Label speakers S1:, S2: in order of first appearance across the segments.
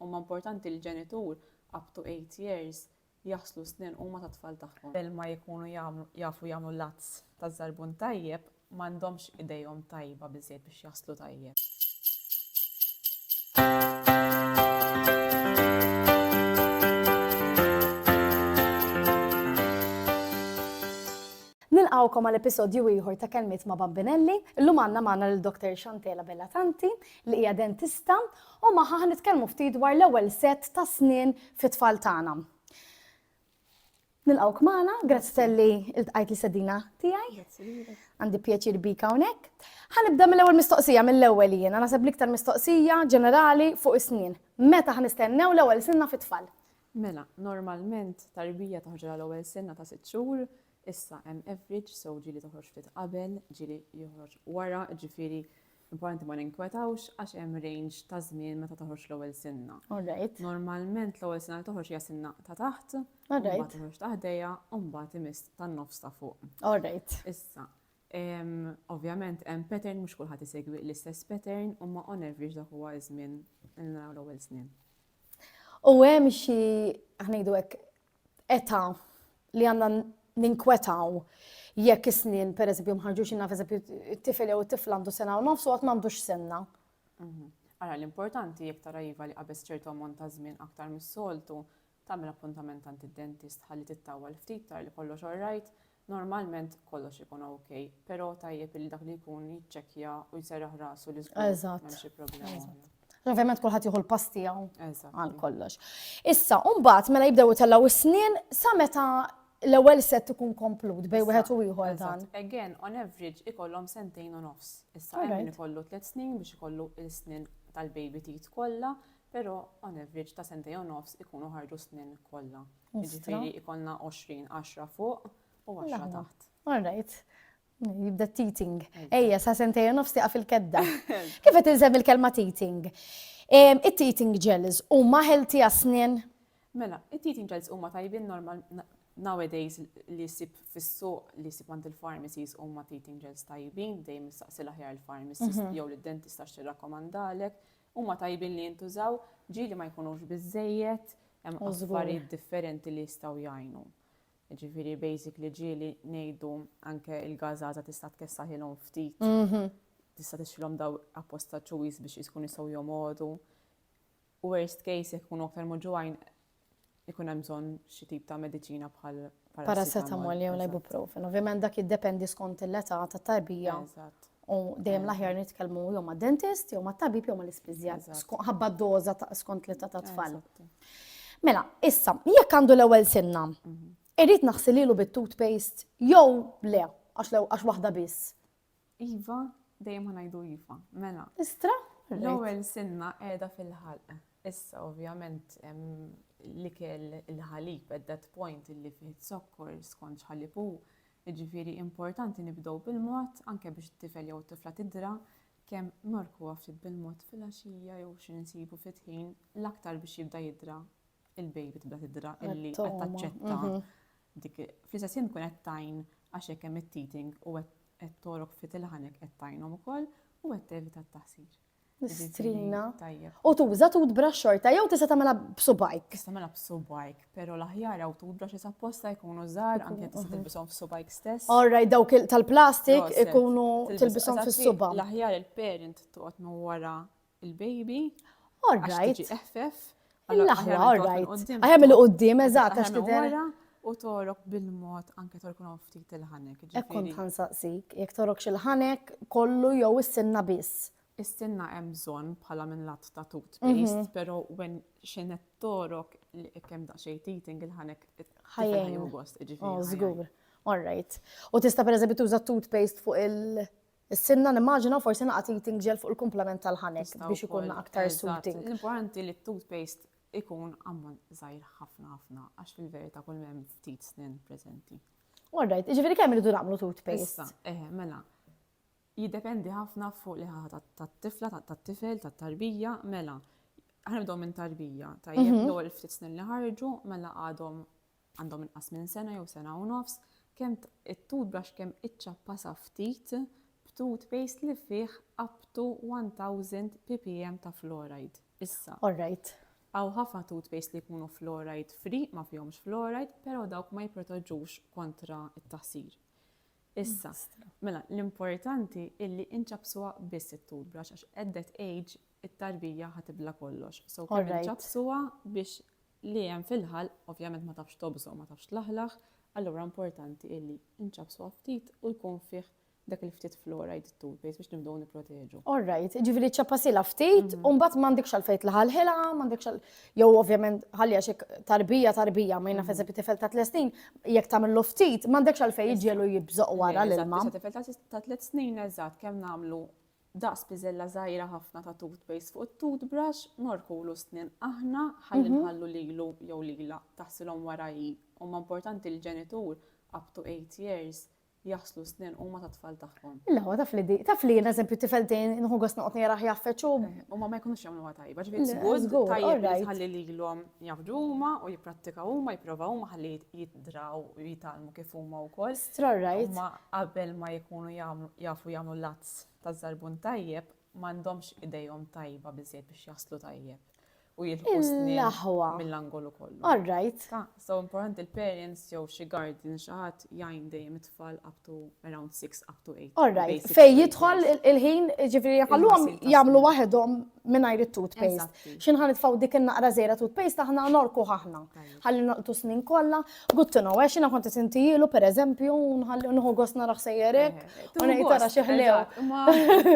S1: Huma importanti l-ġenitur up to eight years jaħslu s-snien huma tat-tfal tagħhom. Qabel ma jkunu jafu jagħmlu l-għads taż-żarbun tajjeb, m'għandhomx idejhom tajba biżżejjed biex jaħslu tajjeb.
S2: Nilqgħukom għal episodju ieħor ta' Kelmiet ma' Bambinelli. Illum għandna magħna lil Dr. Chantela Bellatanti li hija dentista U magħha ħa nitkellmu ftit dwar l-ewwel sett ta' snien fit-tfal tagħna. Nilqgħuk magħna, grazzi talli iltqajt l-istedina tiegħi. Għandi pjaċir bik hawnhekk. Ħa nibda mill-ewwel mistoqsija mill-ewwel jiena naħseb l-iktar mistoqsija ġenerali fuq is-snien. Meta ħa nistennew l-ewwel sinna fit-tfal? Mela,
S1: normalment tarbija toħġilha l-ewwel sinna ta' sitt xhur, issa hemm average, so ġieli toħroġ ftit qabel, ġieli joħroġ wara, ġifieri Importanti ma ninkwetawx għax hemm range ta' żmien meta toħroġ l-ewwel sinna. All right. Normalment l-ewwel sinna li toħroġ hija sinna ta' taħt, All mbagħad right. toħroġ ta' ħdejha u mbagħad imiss tan-nofs ta' fuq. All right. Issa, em, ovvjament hemm pattern mhux kulħadd isegwi l-istess pattern imma on average dak huwa ż-żmien li naraw l-ewwel snien. U
S2: hemm xi ħnejdu hekk età li għandna ninkwetaw jekk is-snien, per eżempju, mħarġux inna, per eżempju, t-tifel jew t-tifla għandu sena u nofs u għat m'għandux senna. Mhm. Ara
S1: l-importanti jekk tara iva li qabes ċertu ammont ta' żmien aktar mis-soltu, tagħmel appuntament għand id-dentist ħalli tittawwal ftit tar li kollox orrajt, Normalment kollox ikun ok, pero tajjeb illi dak li jkun jiċċekkja u jserraħ rasu li żgur m'hemm xi problema. Ovvjament kulħadd
S2: jieħu l-pass tiegħu għal kollox. Issa, mbagħad mela jibdew itellgħu s-snien sa meta l-ewwel set ikun komplut bej wieħed u ieħor dan. Again, on average
S1: ikollhom sentejn u nofs. Issa hemm ikollu tliet snin biex ikollu l-snin tal-baby tit kollha, però on average ta' sentejn u nofs ikunu ħarġu snin kollha. Ostra. Jiġifieri jkollna 20, 10 fuq u 10 taħt. All right.
S2: Jibda teething. Ejja, sa sentej u nofs tiqaf il-kedda. Kif qed inżemm il-kelma teething? It-teething gels huma healthy għas-snien? Mela,
S1: it-teething gels huma tajbin normal nowadays li jsib fis-suq li jsib għand il-pharmacies huma teething gels tajbin dejjem mistaqsi l-aħjar il-pharmacist jew lid-dentist għax tirrakkomandalek Huma tajbin li jintużaw, ġieli ma jkunux biżżejjed, hemm oh, affarijiet differenti li jistgħu jgħinu. Ġifieri basic li ġieli ngħidu anke il-gażaża tista' tkessaħilhom ftit. Mhm. Tista' tixilhom daw apposta ċuwis biex jiskun jistgħu jomgħodu. Worst case jekk ikunu aktar moġuwajn ikun hemm bżonn xi tip ta' mediċina bħal paracetamol
S2: jew l-ibuprofen. Ovvjament dak jiddependi skont l-età tat-tarbija. U dejjem l-aħjar nitkellmu jew ma' dentist, jew ma' tabib, jew ma' l-ispiżjar. Ħabba doża skont l-età tat-tfal. Mela, issa, jekk għandu l-ewwel sinna, mhm. irrid naħsililu bit-toothpaste jew le, għax waħda biss. Iva,
S1: dejjem ħa ngħidu iva. Mela. Istra?
S2: L-ewwel sinna
S1: qiegħda fil-ħalq. Issa ovvjament l-ikel il-ħalib at that point illi fih zokkor skont x'ħalib hu, jiġifieri importanti nibdew bil-mod anke biex it-tifel jew tifla tidra kemm norkuha ftit bil-mod fil-għaxija jew xi nsibu ftit ħin l-aktar biex jibda jidra il-baby tibda tidra illi qed taċċetta mhm. Dik fl-istess ħin tkun qed tgħin għax jekk hemm it-teething u qed togħrok ftit il-ħanek qed tgħinhom ukoll u qed tevita t-taħsir. L-istrina.
S2: Tajjeb. U tuża toothbrush xorta jew tista' tagħmilha b'subajk. Tista' tagħmilha b'subajk,
S1: però l-aħjar hawn toothbrushes apposta jkunu żgħar anke tista' tilbishom f'subajk stess. All right, dawk
S2: tal-plastik ikunu tilbishom fis-suba. L-aħjar il-parent
S1: toqgħod minn wara il-baby. All right.
S2: eħfef.
S1: Il-laħwa, all
S2: right. Għajem il-qoddim, eżat, għax tidher. U torok
S1: bil-mod anke torkun ftit il-ħanek. Ekkun tħan saqsik,
S2: jek torok il-ħanek kollu jew is-sinna biss. Is-sinna hemm
S1: bżonn bħala minn lat ta' toothpaste, mhm. però when xenet torok li kemm daqsxejn teething il-ħanek ħajjin gost, ġifieri. Oh, żgur. All
S2: right. U tista' pereżempju tuża toothpaste fuq il- Is-sinna nimmaġina u forsi naqgħad id tinġiel fuq il-kumplament tal-ħanek biex ikun aktar suiting. L-importanti li t-toothpaste
S1: ikun ammont żgħir ħafna ħafna għax fil-verità kull ma hemm ftit snien preżenti. Alright, jiġifieri
S2: kemm irridu nagħmlu toothpaste? Issa, eh, mela.
S1: Jiddependi ħafna fuq li ħaħa tat-tifla, tat-tifel, tat-tarbija, mela. Ħanibdew minn tarbija, tajjeb mhm. l-ewwel ftit snin li ħarġu, mela għadhom għandhom inqas minn sena jew sena u nofs, kemm it-tut brush kemm iċċappasha ftit b'tut paste li fih up to 1000 ppm ta' fluoride. Issa. All right. Hawn ħafna tut paste li jkunu fluoride free, ma fihomx fluoride, però dawk ma jipproteġux kontra t-taħsir. Issa, mela l-importanti illi inċappsuha biss it-tut brush għax at that age it-tarbija ħa tibla kollox. So kemm inċappsuha biex li hemm fil-ħalq, ovvjament ma tafx tobża u ma tafx tlaħlaħ, allura importanti illi nċappsuha ftit u jkun fih dak il-ftit fluoride it-toothpaste biex nibdew nipproteġu. All right, jiġifieri
S2: ċċappasilha ftit u mbagħad m'għandekx għalfejn tlaħalħilha, m'għandekx għal jew ovvjament ħalliha xi tarbija tarbija ma jnaf eżempju tifel ta' tliet snin jekk tagħmillu ftit m'għandekx għalfejn jiġiegħlu jibżoq wara l-ilma. Tifel ta' tliet
S1: snin eżatt kemm nagħmlu daqs piżella żgħira ħafna ta' toothpaste fuq it-toothbrush, ngħorkulu s-snien aħna ħalli nħallu lilu jew lilha taħsilhom wara hi. Huma importanti l-ġenitur, up to eight years, jaħslu s-snien huma tat-tfal tagħhom. Le hu taf li di, taf
S2: li jien eżempju t-tifel tiegħi nieħu gost noqgħod nierah jgħaffeġ u. Huma ma jkunux
S1: jagħmluha tajba, ġifieri it's good, tajjeb li tħalli lilhom jgħaffġu huma u jipprattika huma, jipprova huma ħalli jitdraw u jitgħallmu kif huma wkoll. Strorrajt. Imma
S2: qabel
S1: ma jkunu jafu jagħmlu l-att N-nies taż-Żarbun Tajjeb m'għandhomx idejhom tajba biżżejjed biex jaħslu tajjeb u jilħqu s-snien mill-angolu kollu. Ta,
S2: so importanti
S1: l-parents jew xi guardian xi ħadd jgħin dejjem it-tfal up to around six up to eight. Alright, fejn
S2: jidħol il-ħin, ġifieri ħalluhom jagħmlu waħedhom mingħajr it-toothpaste. X'inħa nitfgħu dik in-naqra żgħira toothpaste aħna norkuh aħna. ħalli noqtu snin kollha, good to know, għax jiena kont qed intijilu pereżempju, nħalli nħu gost naraħ sejjerek, u ngħid tara xi ħlew.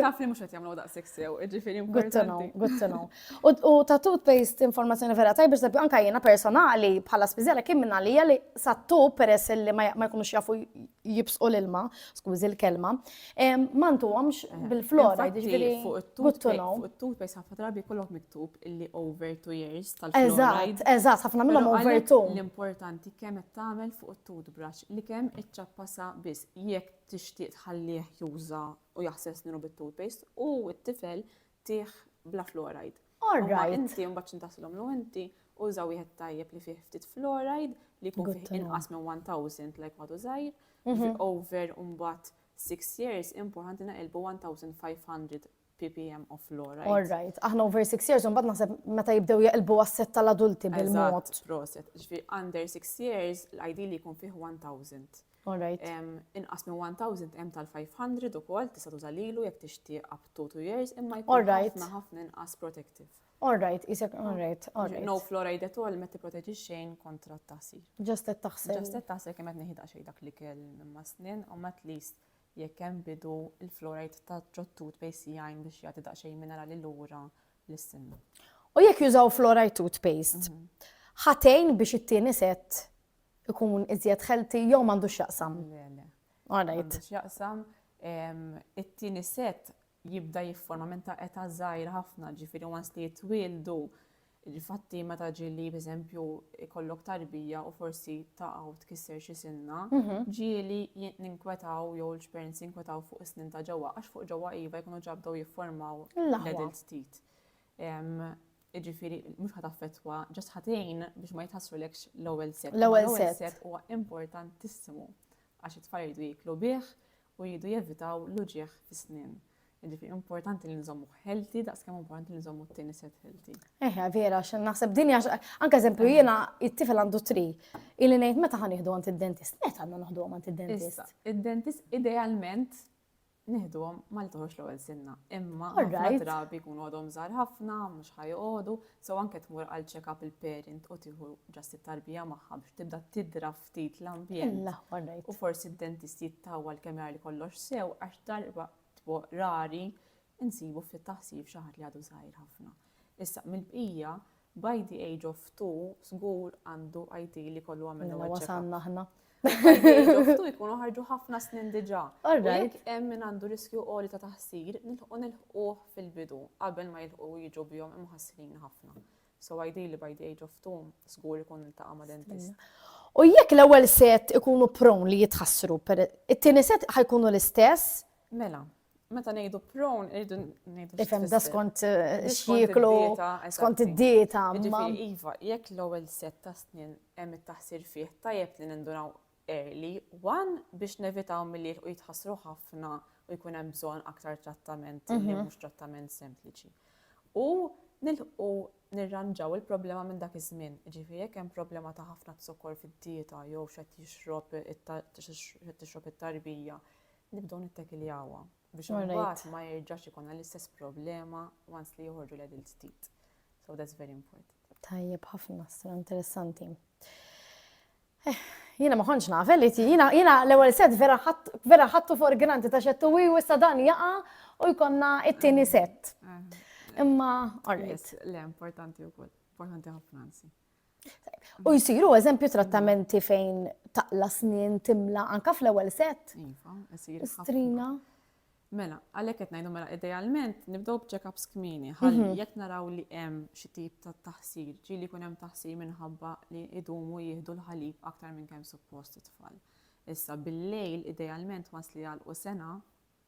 S2: Taf li
S1: mhux qed jagħmlu daqshekk sew, ġifieri Good to know, good to
S2: know. U ta' toothpaste informazzjoni vera tajba, sabbi anka jiena personali bħala spiżjala kien minn għalija li sa tub peress li ma jkunux jafu jibsqu l-ilma, skużi l-kelma, Mantu għamx bil-flora, ġifiri. Fuq it-toothpaste ħafna drabi
S1: kollok miktub illi over two years tal-fluoride. Eżat, ħafna minnhom
S2: over two. L-importanti kemm
S1: qed tagħmel fuq it-toothbrush li kemm iċċappasa biss jekk tixtieq tħallih juża u jaħsel sninu bit-toothpaste u t-tifel Tih bla fluoride. All right.
S2: Inti mbagħad x'intaslhomlu
S1: inti uża wieħed tajjeb li fih ftit fluoride li jkun fih inqas minn 1000 like ma tużajr. Mhm. Over mbagħad 6 years importanti naqilbu 1500 ppm of fluoride. All right, aħna over
S2: 6 years, unbad naħseb meta jibdew jaqilbu għasset tal-adulti bil-mod. Proset, ġvi
S1: under 6 years, l-ID li jkun fih 1000. All right.
S2: Inqas minn 1000
S1: hemm tal-500 ukoll tista' tuża lilu jekk tixtieq up to 2 years imma jkun ħafna ħafna inqas protective. All right, isek
S2: all right. No fluoride at
S1: all ma tipproteġi xejn kontra t-taħsir. Just qed taħsel. Just
S2: qed taħsel kemm qed neħida
S1: xejn dak li kell minn ma' snin u at least jekk hemm bidu il-fluoride ta' ġottut bejs jgħin biex jagħti daqsxejn minerali lura l-sinna. U jekk
S2: jużaw fluoride toothpaste, mhm. ħatejn biex it-tieni set ikun iżjed healthy jew m'għandux x'jaqsam? Le, le. All right. M'għandux x'jaqsam.
S1: It-tieni set jibda jifforma minn ta' età żgħir ħafna, ġifieri once li jitwieldu il-fatti meta ġieli b'eżempju ikollok tarbija u forsi taqgħu tkisser xi sinna, mhm. ġieli ninkwetaw jew l-parents jinkwetaw fuq is-snin ta' ġewwa għax fuq ġewwa iva jkunu ġabdew jifformaw l-adult teeth. jiġifieri mhux ħadd affettwa, ġast ħadd tgħin biex ma jitħassrulekx l-ewwel set. L-ewwel set huwa
S2: importantissimu
S1: għax it-tfal jridu jiklu bih u jridu jevitaw l-uġieħ fis-snien. Jiġifieri importanti li nżommu healthy daqs kemm importanti li nżommu t-tieni set healthy. Eħe, vera, x'in
S2: naħseb dinja anke eżempju jiena it-tifel għandu tri. Ili ngħid meta ħa nieħdu għand id-dentist, meta għandna noħdu għand id-dentist? Id-dentist
S1: idealment Nieħduhom ma li toħroġ l-ewwel sinna, imma All ħafna right. drabi jkunu għadhom żgħar ħafna, mhux ħa joqogħdu, so anke tmur għal check-up il-parent u tieħu ġast it-tarbija magħha biex tibda tidra ftit l-ambjent. Illa, all right. U forsi d-dentist jittawwal kemm jara li kollox sew għax darba tbo rari Insibu ftit taħsir f'xi ħadd li għadu żgħir ħafna. Issa, mill-bqija, by the age of two, żgur għandu ideal li jkollu għamel l-ewwel check-up. Mela wasalna aħna.
S2: By
S1: the age of two jkunu ħarġu ħafna snin diġà. U jekk hemm
S2: min għandu
S1: riskju għoli ta' taħsir, nilħqu nilħquh fil-bidu qabel ma jilħqu jiġu bihom imħassrin ħafna. So ideally by the age of two, żgur ikun iltaqa' ma' dentist. U jekk
S2: l-ewwel set ikunu prone li jitħassru, it-tieni set ħajkunu l-istess? Mela,
S1: meta ngħidu prone irridu ngħidu. Ifhem da skont
S2: eh, x'jieklu, skont id-dieta. Jiġifieri, iva,
S1: jekk l-ewwel set ta' snin hemm it-taħsir fih tajjeb li nindunaw early, one biex nevitaw milli u jitħassru ħafna u jkun hemm bżonn aktar trattament li mhm. mhux trattament sempliċi. U nilħu nirranġaw il-problema minn dak iż-żmien. Ġifieri jekk hemm problema ta' ħafna zokkor fid-dieta jew xed jixrob it-tarbija Nibdew nittekiljawha biex imbagħad ma jerġax ikolna l-istess problema once li joħorġu l-adult teeth. So that's very important. Tajjeb ħafna,
S2: stra interessanti. Eh, jina ma konċ naf, li ti, jina, jina l-ewel set vera ħattu for granti ta' xettu wi u issa dan jaqa u jkonna it-tini set. Imma, alright. Le, importanti
S1: u kol, importanti ħafna nsi. U
S2: jisiru eżempju trattamenti fejn taqla snin timla anka fl-ewwel set. Iva, isir.
S1: Strina.
S2: Mela,
S1: għalhekk qed ngħidu mela idealment nibdew b'check-ups kmini ħalli mhm. jekk naraw li hemm xi tip ta' taħsir, ġieli jkun hemm taħsir minħabba li idumu jieħdu l-ħalib aktar minn kemm suppost it-tfal. Issa bil-lejl idealment wasli għal u sena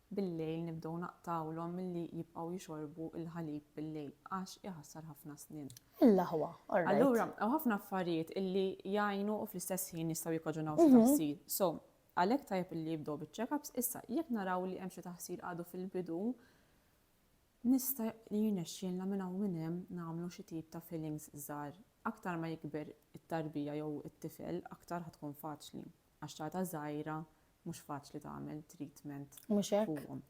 S1: Bil-lejl nibdew naqtgħulhom milli jibqgħu jixorbu l-ħalib bil-lejl għax iħassar ħafna snien. Il-laħwa, all right.
S2: Allura hawn ħafna
S1: affarijiet illi jgħinu u fl-istess ħin jistgħu jikkaġunaw xi taħsir. So, għalhekk tajjeb illi jibdew biċ-check-ups. Issa, jekk naraw li hemm xi taħsir għadu fil-bidu, nista' li jirnexxielna minn hawn minn hemm nagħmlu xi tip ta' fillings żgħar. Aktar ma jikber it-tarbija jew it-tifel, aktar ħa tkun faċli. għax ċagħta żgħira mhux faċli tagħmel treatment fuqhom.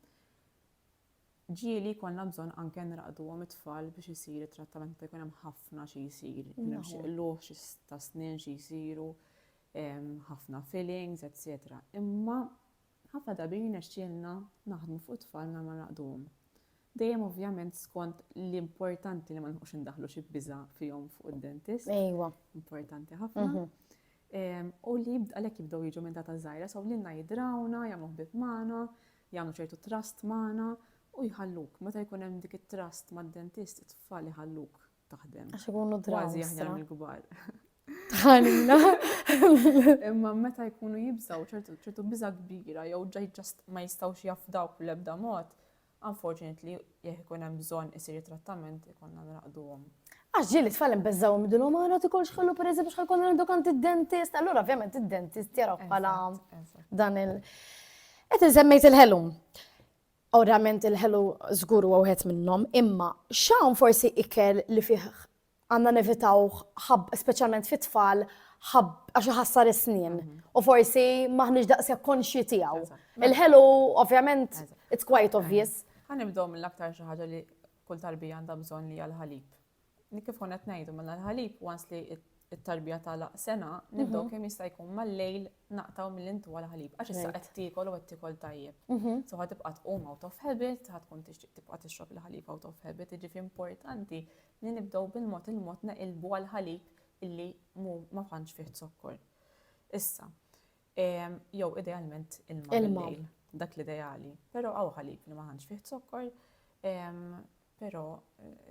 S1: Ġieli jkollna bżonn anke nraqduhom it-tfal biex isir it-trattament meta jkun hemm ħafna xi jsir, jkun hemm xi qlugħ, xi ta' snien xi jsiru, ħafna fillings, etc. Imma Ħafna drabi jirnexxielna naħdmu fuq it-tfal mingħajr ma nraqduhom. Dejjem ovvjament skont li importanti li ma nilħqux indaħħlu xi biża' fihom fuq id-dentist. Ejwa.
S2: Importanti ħafna.
S1: U li għalhekk jibdew jiġu minn data żgħira, so lilna jidrawna, jagħmlu ħbieb magħna, jagħmlu ċertu trust magħna u jħalluk. Meta jkun hemm dik it-trust mad-dentist, it-tfal iħalluk taħdem. Għax ikunu draw. Kważi
S2: aħjar mill-kbar.
S1: Tħanina. Imma meta jkunu jibżaw ċertu ċertu biża kbira jew ġaj ġast ma jistgħux jafdaw fl-ebda mod, unfortunately jekk ikun hemm bżonn isir trattament ikonna nraqduhom. Għax ġieli tfal
S2: imbeżżaw midlu ma għana tikol xħallu per eżempju xħal konna għandu kant id-dentist, allura ovvjament id-dentist jaraw bħala dan il- Qed insemmejt il-ħelum. Ovvjament il-ħelu żgur huwa wieħed minnhom, imma x'hawn forsi ikel li fih għandna nevitawh ħab speċjalment fit-tfal ħab għax iħassar is-snien u forsi m'aħniex daqshekk konxji tiegħu. Il-ħelu ovvjament it's quite obvious. Ħa nibdew mill-aktar
S1: xi ħaġa li kull tarbija għandha bżonn li hija l-ħalib. li kif konna qed ngħidu mela l-ħalib once li it-tarbija tagħlaq sena, nibdew mhm. kemm jista' jkun mal-lejl naqtaw mill-intu għal ħalib għax issa qed tiekol u qed tiekol tajjeb. Mhm. So ħad tibqa' tqum out of habit, ħad tkun tixtieq tibqa' tixrob il-ħalib out of habit, jiġifieri importanti li nibdew bil-mod il-mod naqilbu għal ħalib illi ma tantx fih zokkor. Issa, jew idealment il-ma dak l-ideali, però għaw ħalib li ma tantx fih zokkor, Però,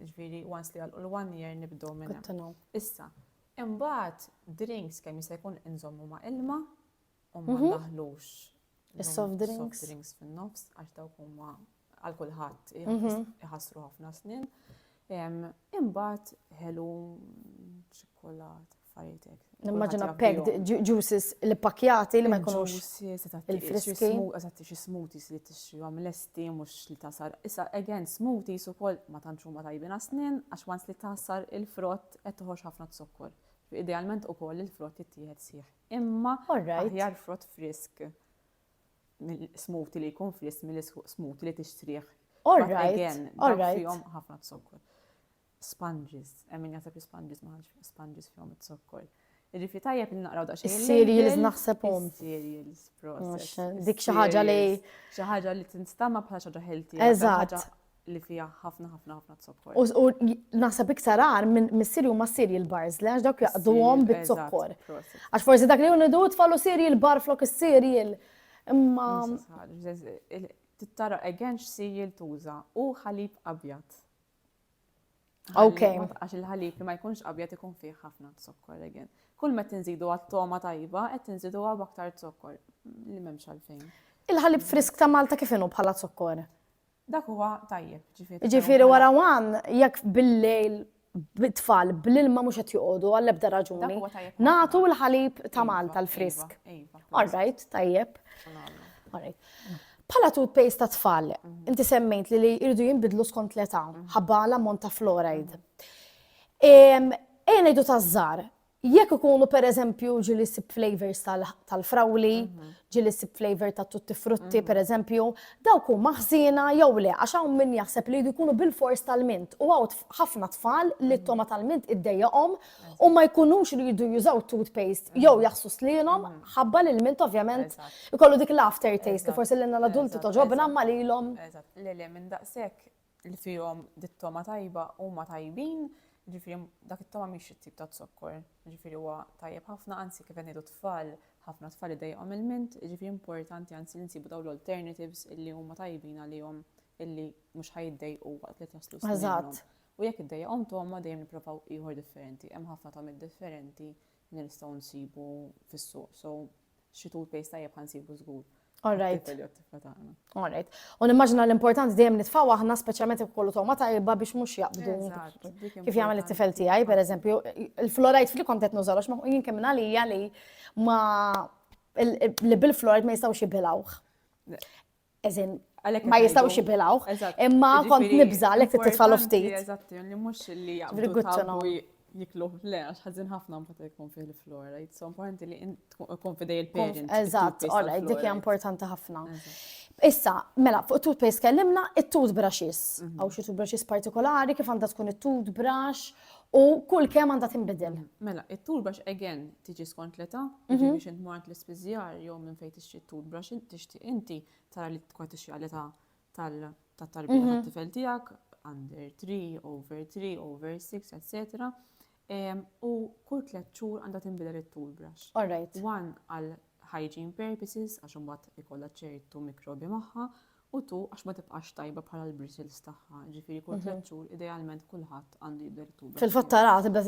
S1: ġifieri, once li jagħlqu l-one year nibdew minn hemm. Issa, imbagħad drinks kemm jista' jkun inżommu ma' ilma u ma mhm. ndaħlux is-soft
S2: drinks. Soft drinks fin-nofs għax
S1: dawk huma għal kulħadd mhm. iħassru ħafna snin. Imbagħad ħelu ċikkolat. affarijiet hekk. Nimmaġina packed
S2: juices li pakjati li ma jkunux il-friski. Eżatt xi
S1: smoothies li tixtrihom lesti mhux li tasar. Issa again smoothies ukoll ma tantx huma tajbin għas-snien għax once li tasar il-frott qed toħroġ ħafna zokkor. Idealment ukoll il-frott jittieħed sieħ. Imma aħjar frott frisk smoothie li jkun frisk mill-smoothie li tixtrih. All right. Again, ħafna zokkor. sponges, hemm min jaħseb li sponges ma ħadx sponges fihom iz-zokkor. Irrifi tajjeb li naqraw daqsxejn. Is-cereals naħsebhom.
S2: Is-cereals,
S1: process. Dik xi ħaġa li.
S2: Xi ħaġa li
S1: tinstama bħala xi ħaġa healthy. Eżatt.
S2: Li fija
S1: ħafna ħafna ħafna zokkor. U
S2: naħseb iktar għar minn missieri huma cereal bars li għax dawk jaqduhom bit-zokkor. Għax forsi dak li hu nidu tfallu cereal bar flok is-cereal. Imma.
S1: Tittara again x'cereal tuża u ħalib abjad.
S2: Ok. Għax il-ħalib
S1: li ma jkunx abjad ikun fih ħafna zokkor again. Kull ma tinżidu għat-toma tajba qed tinżidu għab aktar zokkor li m'hemmx għalfejn. Il-ħalib frisk
S2: ta' Malta kif inhu bħala zokkor? Dak huwa
S1: tajjeb, ġifieri. Ġifieri wara
S2: wan jekk bil-lejl bit-tfal bl-ilma mhux qed joqogħdu għall-ebda raġuni. Nagħtu l-ħalib ta' iva, Malta l-frisk. Iva, iva, All right, tajjeb. All right. Bħala toothpaste ta' tfal, inti semmejt li li jridu jinbidlu skont l-età, ħabba l-ammont ta' fluoride. Ejja ngħidu ta' żar, jekk ikunu per eżempju ġili sib flavors tal-frawli, mhm. ġili sib flavor ta' tutti frutti mhm. per eżempju, dawk hu maħżina jew le, għax hawn min jaħseb li jkunu bil-fors tal-mint u għaw ħafna tfal li mhm. t-toma tal-mint iddejjaqhom u ma jkunux li jidu jużaw toothpaste mm. jew jaħsu slinom mm. ħabba li l-mint ovvjament ikollu dik l-after taste li forsi l-inna l-adulti toġobna ma li l-om. Le le minn
S1: daqsek li fihom dit-toma tajba u ma tajbin ġifiri dak it-toma miex it-tip ta' zokkor, ġifiri huwa tajjeb ħafna, anzi kif għenidu tfal, ħafna tfal idejqom il-mint, ġifiri importanti anzi li nsibu daw l-alternatives illi huma tajbin għalihom illi mhux ħajiddejqu waqt li taslu. Eżatt. U jekk iddejjaqhom togħma dejjem nipprovaw ieħor differenti. Hemm ħafna togħmiet differenti li nistgħu nsibu fis-suq. So, xi toothpaste tajjeb ħa nsibu żgur. Alright. Tifel jew
S2: tifla tagħna. Alright. U nimmaġina l-importanti dejjem nitfgħu aħna speċjalment jekk kollu togħma tajba biex mhux jaqbdu. Eżatt, dik Kif jagħmel importanti. it-tifel tiegħi, pereżempju, il-fluoride free kont qed nużalu għax ma- jien kemm minn għalija li ma il- li bil-fluoride ma jistgħux jibilgħuh. Eżin, ma jistawx jibilawh. Imma kont nibża li fit titfalu ftit. Eżatti, li mux
S1: li jgħamlu jikluħ le, għax ħazin ħafna mbagħad jkun fih l-flora. It's so importanti li jkun fidej il-parent. Eżatt, ora, dik
S2: hija importanti ħafna. Issa, mela, fuq toothpaste kellimna it-toothbrushes. Għaw mhm. xi toothbrushes partikolari, kif għandha tkun it-toothbrush U kull kemm għandha tinbidel. Mela, it-toothbrush
S1: again tiġi skont l-età, jiġifieri biex int mort l-ispiżjar jew minn fejn tixtri t-toothbrush tixtieq inti tara li tkun qed tixtri għall-età tat-tarbija tat-tifel tiegħek, under three, over three, over six, etc. U kull tliet xhur għandha tinbidel it-toothbrush. All right. One
S2: għal
S1: hygiene purposes għax imbagħad ikollha ċertu mikrobi magħha U tu għax ma tibqax tajba bħala l-bristles tagħha, ġifieri kull tliet xhur idealment kulħadd għandu jibda jittuba. Fil-fatt tara tibda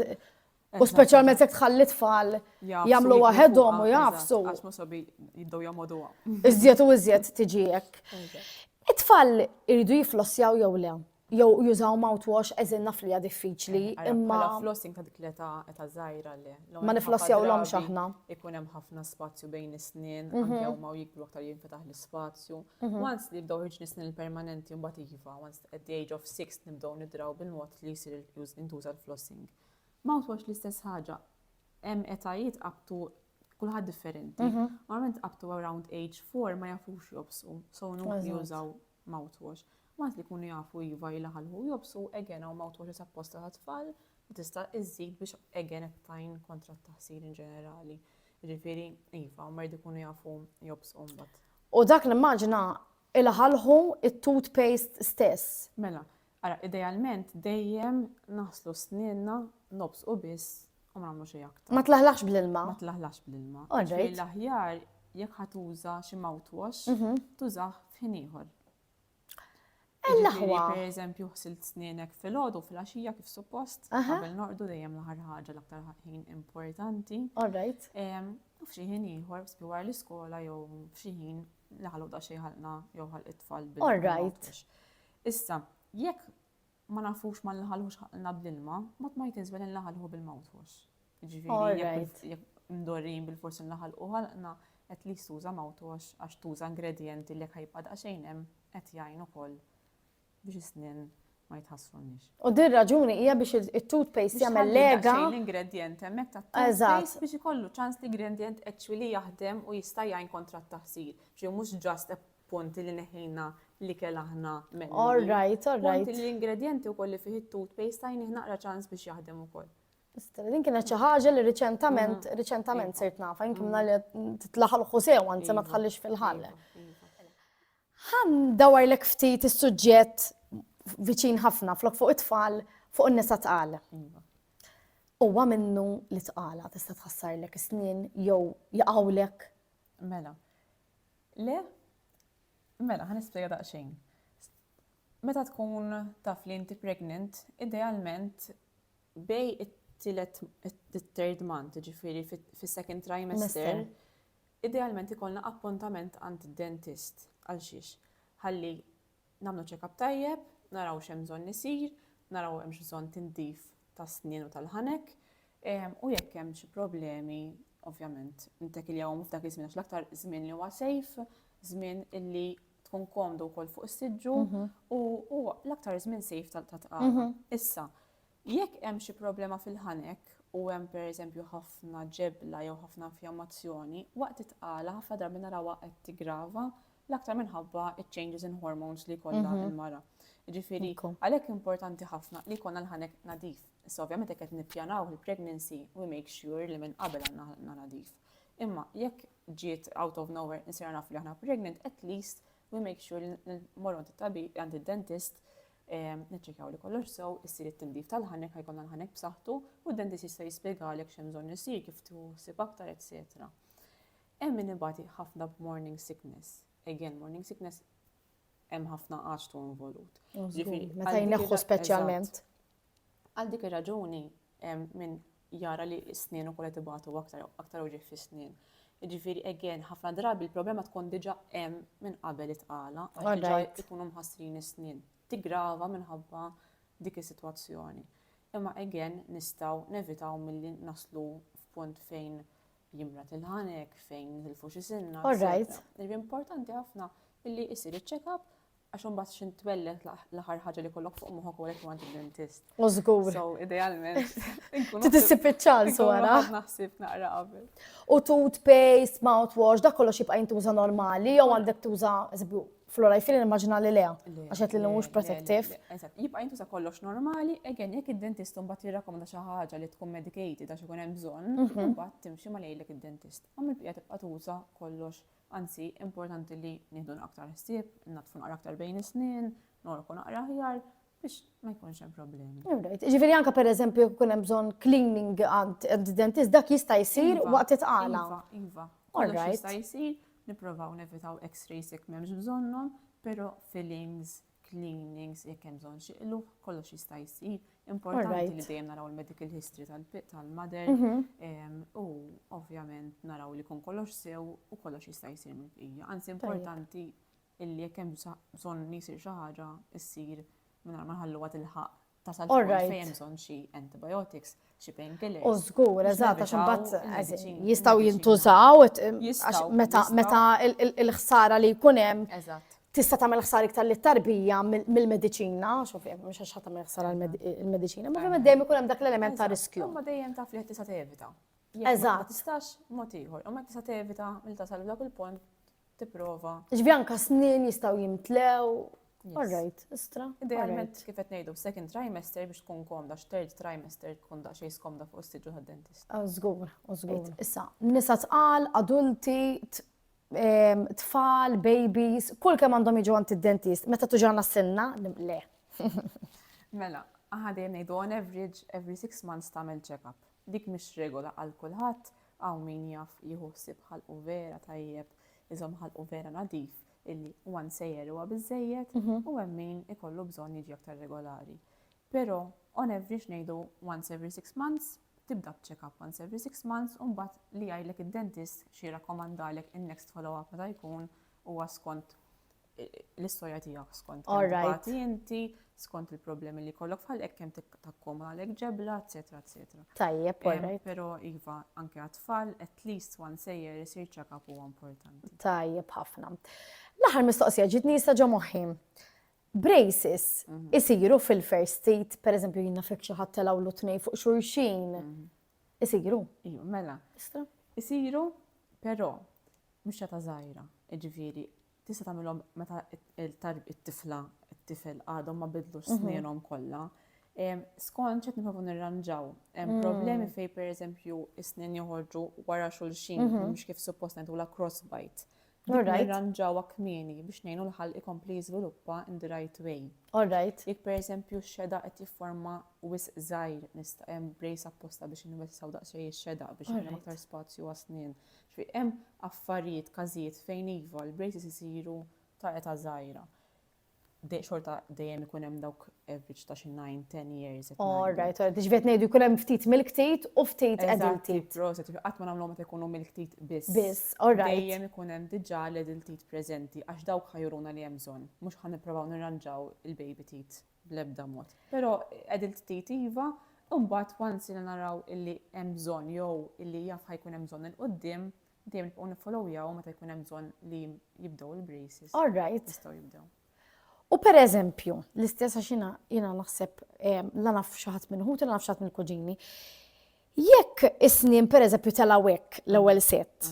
S2: U speċjalment jekk tħalli tfal jagħmlu waħedhom u jafsu. Għax ma sabi
S1: jibdew jagħmluha. Iżjed u iżjed
S2: tiġi hekk. It-tfal iridu jiflossjaw jew le? Jew jużaw mouthwash eżin naf li hija diffiċli, imma. Bħala flossing ta' dik l-età
S1: età żgħira le. Ma niflossjawlhomx
S2: aħna. Ikun hemm ħafna
S1: spazju bejn is-snien, anke huma u jikbru aktar jinfetaħ l-ispazju. Once li jibdew jiġni snien permanenti mbagħad iva, once at the age of six nibdew nidraw bil-mod li jsir intuża l-flossing. Mouthwash l-istess ħaġa. Hemm etajiet up to kulħadd differenti. Normalment up to around age four ma jafux jobsu, so nukli jużaw mouthwash. Waqt li jkunu jafu iva jlaħħlħu u jobsu, again hawn mouthwashes apposta tat-tfal li tista' iżżid biex again qed tgħin kontra t-taħsir in ġenerali. Jiġifieri iva, huma jridu jkunu jafu jobsu mbagħad. U dak nimmaġina
S2: ilaħħlħu t-toothpaste stess. Mela, Ara,
S1: idealment dejjem naħslu snienna, nobżqu biss u ma nagħmlu xejn aktar. Ma tlaħlaħx bl-ilma. Ma
S2: tlaħlaħx bl-ilma.
S1: All right. Ġifieri l-aħjar jekk ħa tuża xi mouthwash, tużah f'ħin ieħor. Ejn Ġifieri l-aħwa.
S2: pereżempju ħsilt
S1: snienek filgħodu u filgħaxija kif suppost, Aha. qabel norqdu dejjem l-aħħar ħaġa l-aktar ħin importanti. All right. Em,
S2: U f'xi ħin
S1: ieħor, sbi wara l-iskola jew f'xi ħin li ħallu daqsxejn ħalqna jew ħalq it-tfal bil- All right. bil-mouthwash.
S2: Issa,
S1: jekk ma nafux ma nlaħalhux ħaqlna bl-ilma, ma tmajt iżwel inlaħalħu bil-mewt hux. Jiġifieri jekk jekk mdorrijin bilfors inlaħalqu ħalqna, at least tuża mewt hux għax tuża ingredjenti li jekk ħajibqa' daqsxejn hemm qed jgħin ukoll biex is-snien ma jitħassrunniex. U din raġuni
S2: hija biex it-toothpaste jagħmel lega. Biex tħalli daqsxejn l-ingredjent hemmhekk
S1: tat-toothpaste biex ikollu ċans l-ingredjent actually jaħdem u jista' jgħin kontra t-taħsir. Ġifieri mhux just Ponti li neħħejna l-ikel aħna mennu. All right, all right.
S2: Ponti li l-ingredjenti
S1: wkoll li fih it-toothpaste tajnih naqra ċans biex jaħdem ukoll. Stella, din kienet
S2: xi ħaġa li riċentament, mhm. riċentament iva. sirt nafa, jinkim mhm. li titlaħal ħusew, anzi ma iva. tħallix fil-ħalle. Ħan iva, dawar l ftit is-suġġett viċin ħafna, flok fuq it-tfal, fuq n-nisa tqal. Uwa minnu li tqala tista' tħassarlek is-snin jew jaqawlek. Mela.
S1: Le? Mela, ħa nispjega daqsxejn. Meta tkun taf li inti pregnant, idealment bej it-tielet it-third month, ġifieri fis-second trimester, idealment ikollna appuntament għand id-dentist. Għal xiex? Ħalli Nagħmlu check-up tajjeb, naraw x'hemm bżonn isir, naraw hemmx bżonn tindif tas-snien u tal-ħanek, u jekk hemm xi problemi ovvjament nittekiljawhom f'dak iż-żmien għax l-aktar żmien li huwa safe, żmien illi tkun komdu wkoll fuq is-siġġu u huwa l-aktar żmien safe tat-tqala. Issa, jekk hemm xi problema fil-ħanek u hemm pereżempju ħafna ġebla jew ħafna infjammazzjoni, waqt it-tqala ħafna drabi narawha qed tiggrava L-aktar minħabba iċ-changes in hormones li jkollha Mhm. l-mara. Jiġifieri, Ikku. għalhekk importanti ħafna li jkollna l-ħanek nadif. Issa ovvjament jekk qed nippjanaw il-pregnancy, we make sure li minn qabel għandna ħanna nadif. Imma jekk ġiet out of nowhere insira nafu li aħna pregnant, at least we make sure li n- morru għand it-tabib, għand id-dentist, em, niċċekjaw li kollox sew, issir it-tindif tal-ħanek, ħajkollna l-ħanek b'saħħtu, u d-dentist jista' jispjegalek x'hemm bżonn isir, kif tieħu ħsieb aktar, etc. Hemm min ibati ħafna b'morning sickness. Again, morning sickness hemm ħafna għaġtu involut. Meta
S2: jneħħu speċjalment. Għal
S1: dik ir-raġuni minn jara li s-snien u kollet ibatu aktar, aktar uġieħ fi snin. Ġifiri, again, ħafna drabi il-problema tkun diġa hemm minn qabel it-qala, għax ikunu mħassrin is-snin. Tigrava minħabba dik is-sitwazzjoni. Imma again, nistaw nevitaw mill-li naslu f'punt fejn Jimra tilħanek fejn nitilfu xi sinna. All right. Irri importanti ħafna illi isir iċ-check-up għax imbagħad xi ntwellet l-aħħar ħaġa li kollok fuq moħħok u għalhekk għand id-dentist. U żgur. So
S2: idealment.
S1: Titissib
S2: iċ-ċans wara. Naħsib naqra qabel.
S1: U toothpaste,
S2: mouthwash, dak kollox jibqa' jintuża normali jew għandek tuża eżempju Flora, jfil il-maġna li le, għaxet li l-mux protektiv. Jibqa jintu sa
S1: kollox normali, egen, jek id-dentist un bat jirrakomda xaħġa li tkun medicated għax ikun hemm bżonn, un mhm. bat timxi ma lejlek id-dentist. Għam il-pija tibqa tuża kollox, anzi, importanti li nieħdu aktar ħsieb, natfu naqra aktar bejn is-snin, norku naqra ħjar, Biex ma jkunx hemm problemi. Ġifieri anke
S2: pereżempju jekk ikun hemm bżonn cleaning għand dentist dak jista' jsir iva, waqt itqala. Iva, iva. Kollox
S1: jista' jsir, nipprovaw nevitaw x-rays jekk m'hemmx bżonnhom, però fillings, cleanings, jekk hemm bżonn xi qluħ, kollox jista' jsir. Importanti li dejjem naraw il-medical history tal-mother mhm. u ovvjament naraw li kun kollox sew u kollox jista' jsir mill-bqija. Anzi importanti illi jekk hemm bżonn li jsir xi ħaġa, issir mingħajr ma nħalluha tilħaq tasal fil-punt fejn hemm bżonn xi antibiotics, xi painkillers. U żgur, eżatt,
S2: għax imbagħad jistgħu jintużaw meta l-ħsara li jkun hemm. Eżatt tista' tagħmel ħsar iktar li tarbija mill-mediċina, xuf jekk mhux għax tagħmel ħsar il-mediċina, ma kemm dejjem ikun hemm dak l-element ta' riskju. Ma dejjem taf li qed tista'
S1: tevita. Eżatt. Tistax
S2: mod
S1: ieħor, u ma tista' tevita mill tasal dak il-punt tipprova. Ġbi anka snin
S2: jistgħu jimtlew. All right, istra. Idealment kif qed ngħidu
S1: second trimester biex tkun komda, third trimester tkun da xejn skomda fuq is-siġu tad-dentist. Ah, żgur, oh, żgur.
S2: Issa, nisa tqal, adulti, ehm, tfal, babies, kull kemm għandhom jiġu għand id-dentist, meta tuġana s-senna, le.
S1: Mela, ħadin ngħidu on average every six months tagħmel check-up. Dik mhix regola għal kulħadd, Hawn min jaf jieħu ħsieb ħalqu vera tajjeb, iżomm ħalqu vera nadif illi one sejjer huwa biżżejjed u hemm min ikollu bżonn jiġi aktar regolari. Però on average ngħidu once every six months, tibda b'check-up once every six months u mbagħad li jgħidlek id-dentist xi jirrakkomandalek in-next follow-up meta jkun huwa skont l-istorja tiegħek skont Alright. inti, skont il-problemi li kollok fħal hekk kemm takkom għalek ġebla, eċetera, eċetera. Tajjeb, alright.
S2: Però iva
S1: anke għat-tfal at least one sejjer isir check-up huwa importanti. Tajjeb ħafna.
S2: L-aħħar mistoqsija ġitni jista' ġo moħħi. Braces mhm. isiru fil-first state, per eżempju jina fek xi ħadd telgħu l-tnej fuq xulxin. Mhm. Isiru. Iju, mela.
S1: Isiru, però mhux ta' żgħira. Ġifieri, tista' tagħmilhom meta t-tifla, t-tifel għadhom ma bidlux mhm. snienhom kollha. Skont xed niprofu nirranġaw, mhm. problemi fej per eżempju is-snin joħorġu wara xulxin, mhm. mhux kif suppost ngħidu la crossbite. Nirranġaw kmieni biex ngħinu l-ħal ikompli jiżviluppa in the right way. All right. Jek per eżempju x-xeda qed jifforma wis żgħir nista' hemm brace apposta biex inwessaw daqsxejn ix-xeda biex hemm aktar spazju għas-snin. Ġifieri hemm affarijiet, każijiet fejn iva l-braces isiru ta' età żgħira. Xorta dejjem ikun hemm dawk average ta' xi nine, ten years qed ngħidu. All right, all right. Ġifieri qed
S2: ngħidu jkun hemm ftit mill-ktit u ftit adult teeth. Eżatt, proset. Qatt ma nagħmluhom meta
S1: jkunu mill-ktit biss. Biss, all right. Dejjem ikun hemm diġà l-adult teeth preżenti għax dawk ħa juruna li hemm bżonn. Mhux ħa nipprovaw nirranġaw il-baby teeth. bl-ebda mod. Però qegħdin ftit iva, imbagħad once jiena naraw illi hemm bżonn jew illi jaf ħa jkun hemm bżonn 'il quddiem, dejjem nibqgħu niffolowjawhom meta jkun hemm bżonn li jibdew il-braces.
S2: All
S1: right. Jistgħu jibdew. U
S2: per eżempju, l-istess għax jiena jiena naħseb la naf xi ħadd minn ħuti, la naf xi ħadd mill-kuġini. Jekk is-snien per eżempju telgħu hekk l-ewwel sett,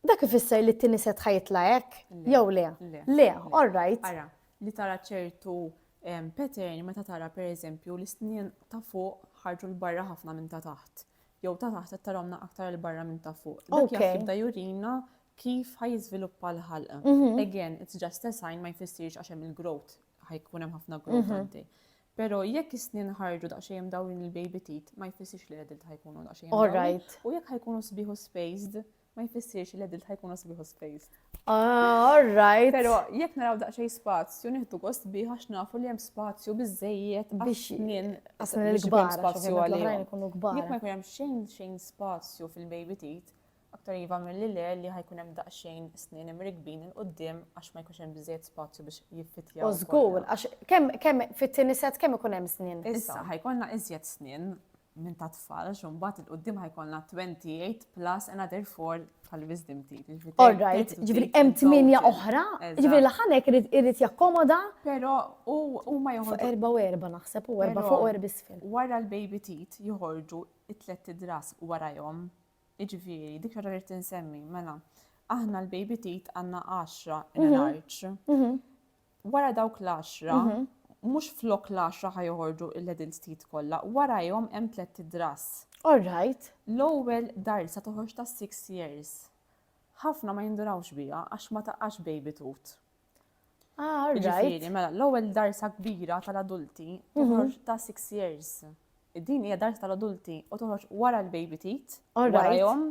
S2: Dak ifisser li t-tieni set ħajitla hekk? Jew le? Le, all right. Ara, li tara
S1: ċertu pattern meta tara pereżempju l-isnien ta' fuq ħarġu l-barra ħafna minn ta' taħt. Jew ta' taħt qed taromna aktar il-barra minn ta' fuq. Dak jibda jurina kif ħajżviluppa l-ħalqa. Mhm. Again, it's just a sign ma jfissirx għax hemm il-growth, ħajkun hemm ħafna growth mhm. għaddej. Pero jekk is-snin ħarġu daqsxejn dawrin il-baby tit, ma jfissirx li l-adult ħajkunu daqsxejn. All right. U jekk ħajkunu sbiħu spaced, ma jfissirx li l-edilta jkunu sbiħ u spaced. Ah, all
S2: right. Pero jekk naraw
S1: daqxej spazju, nieħdu gost bi għax nafu li hemm spazju biżejjed biex nien
S2: għasna
S1: l-kbar
S2: spazju
S1: għalihom. Jekk ma jkun hemm
S2: xejn
S1: xejn spazju fil-baby tit, aktar jiva mill-li le li ħajkun hemm daqsxejn snin imrikbin il qudiem għax ma jkunx hemm biżejjed spazju biex jiffitja. U żgur, għax
S2: kemm kemm fit-tieni set kemm ikun hemm snin. Issa ħajkonna iżjed
S1: snin minn ta' tfal, għax imbagħad il-qudiem ħajkollna 28 plus another 4 tal-wisdom teeth. Jiġifieri All right, ġifieri
S2: hemm tminja oħra, ġifieri l-ħanek irid jakkomoda. Però
S1: huma joħorġu. Fuq erba' u erba' naħseb
S2: u erba' fuq u erba' isfel. Wara l-baby teeth
S1: joħorġu it-tlet idras warajhom. Jiġifieri dik xaġa rrid insemmi, mela. Aħna l-baby teeth għandna 10 in-arċ. Mhm, mhm. wara dawk l-għaxra, mhux flok l-għaxra ħa joħorġu l-edil ġdid kollha, warajhom hemm tlett idras. All right.
S2: L-ewwel darsa
S1: toħroġ ta' six years. Ħafna ma jindurawx biha għax ma taqax baby tut. Ah,
S2: all right. Mela, l-ewwel
S1: darsa kbira tal-adulti mhm. toħroġ ta' six years. Din hija darsa tal-adulti u toħroġ wara l-baby tit, warajhom,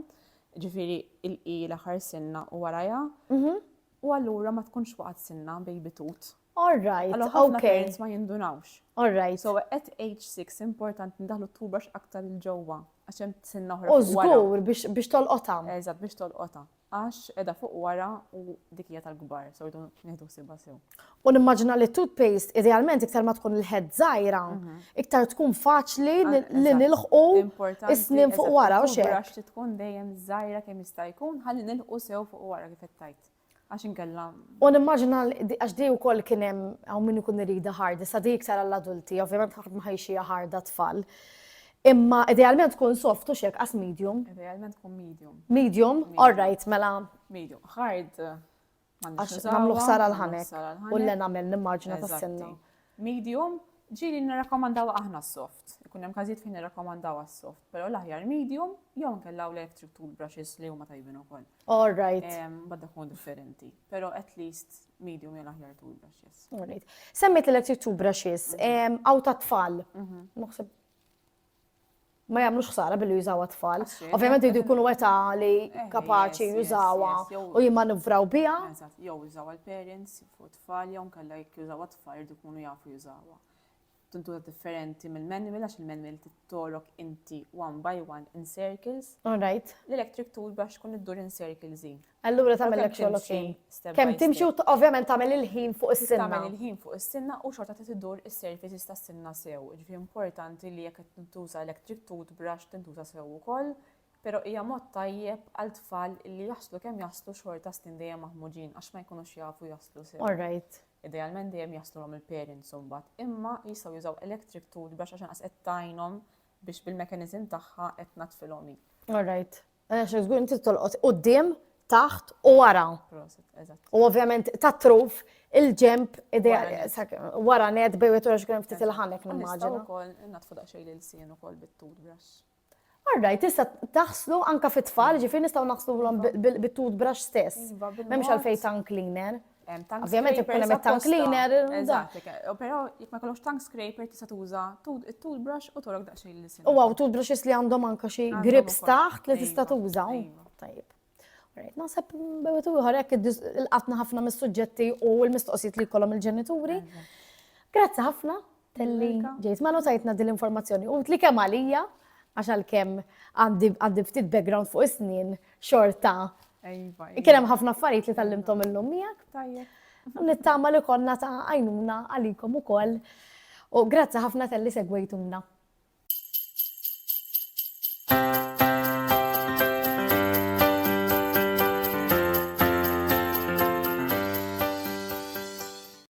S1: ġifieri il-qi l-aħħar sinna u warajha. Mhm. U allura ma tkunx waqgħet sinna baby tut. All right, Allora
S2: ħafna okay. parents ma
S1: jindunawx. All right. So
S2: at age
S1: 6 importanti ndaħlu t-toothbrush aktar il ġewwa għax hemm sinna oħra. U fuq wara. żgur biex
S2: biex tolqotha. Eżatt biex tolqotha.
S1: Għax edha fuq wara u dik hija tal-kbar, so rridu nieħdu ħsiebha sew. U nimmaġina li toothpaste
S2: idealment iktar ma tkun il-head żgħira, iktar tkun faċli li nilħqu is-snin fuq wara u xejn. Għax tkun dejjem
S1: żgħira kemm jista' jkun ħalli nilħqu sew fuq wara kif tajt. Għax inkella. U nimmaġina
S2: għax di wkoll kien hemm hawn min ikun irida ħarda, sa di iktar għall-adulti, ovvjament ħadd ma ħajxija ħarda tfal. Imma idealment tkun soft u xek għas medium. Idealment tkun medium.
S1: Medium, all
S2: right, mela. Medium, hard.
S1: Għax
S2: namlu ħsara l-ħanek u l-enamel nimmarġina tas-sinna. Medium,
S1: ġili nirrakkomandaw aħna soft. Ikun hemm każijiet fejn nirrakkomandaw soft, però l-aħjar medium jew nkella u electric toothbrushes li huma tajbin ukoll. All right.
S2: Badda kun differenti,
S1: però at least medium jew l-aħjar toothbrushes. All right. Semmit
S2: l-electric toothbrushes, għaw ta' tfal. Mhm. Naħseb ma jagħmlux ħsara billi jużawha tfal. Ovvjament jridu jkunu età li eh, kapaċi jużawha u jimmanuvraw biha. Jew jużawha
S1: l-parents fuq tfal jew nkella jekk jużawha tfal jridu jkunu jafu jużawha. Tintuża differenti mill-manual għax il-manual tittorok inti one by one in circles. All right. L-electric
S2: tool biex
S1: tkun iddur in circles. Allura tagħmellek xogħol
S2: okej. Kemm timxi u ovvjament tagħmel il-ħin fuq is-sinna. Tagħmel il-ħin fuq is-sinna
S1: u xorta trid iddur is-surfaces tas-sinna sew. Jiġifieri importanti li jekk qed tintuża electric toothbrush tintuża sew ukoll, però hija mod tajjeb għal tfal li jaslu kemm jaslu xorta snin dejjem maħmuġin għax ma jkunux jafu jaslu sew. All right. Idealment
S2: dejjem jaslulhom
S1: il-parents imbagħad, imma jistgħu jużaw electric toothbrush għax inqas qed tgħinhom biex bil-mekanizm tagħha qed tnaddfilhom hi. All right.
S2: Għax żgur inti tolqot quddiem, taħt u wara. U ovvjament ta' truf il-ġemp wara net bej u turax kien ftit il-ħanek nimmaġina. Ukoll natfu
S1: daqsxejn lil sien ukoll bit-toothbrush. Arraj,
S2: tista' taħslu anka fit-tfal, ġifieri nistgħu naħslu bit-toothbrush stess. Iva, M'hemmx għalfejn tongue cleaner. Ovvjament ikun hemm tank cleaner. Eżatt,
S1: però jekk ma jkollokx tank scraper tista' tuża toothbrush u tolok daqsxejn li U għaw toothbrushes li għandhom
S2: anke xi grips taħt li tista' tuża. Tajjeb. Naħseb bewet ieħor hekk il-qatna ħafna mis-suġġetti u l-mistoqsijiet li jkollhom il-ġenituri. Grazzi ħafna Telli, ġejt ma notajtna din l-informazzjoni. U li kemm għalija, għax għal-kem għandi ftit background fuq is-snin, xorta. Iva, iva. Kien hemm ħafna affarijiet li tallimtom illum miegħek. Tajjeb.
S1: Nittama li
S2: konna ta' għajnuna għalikom ukoll. U grazzi ħafna tal-li segwejtuna.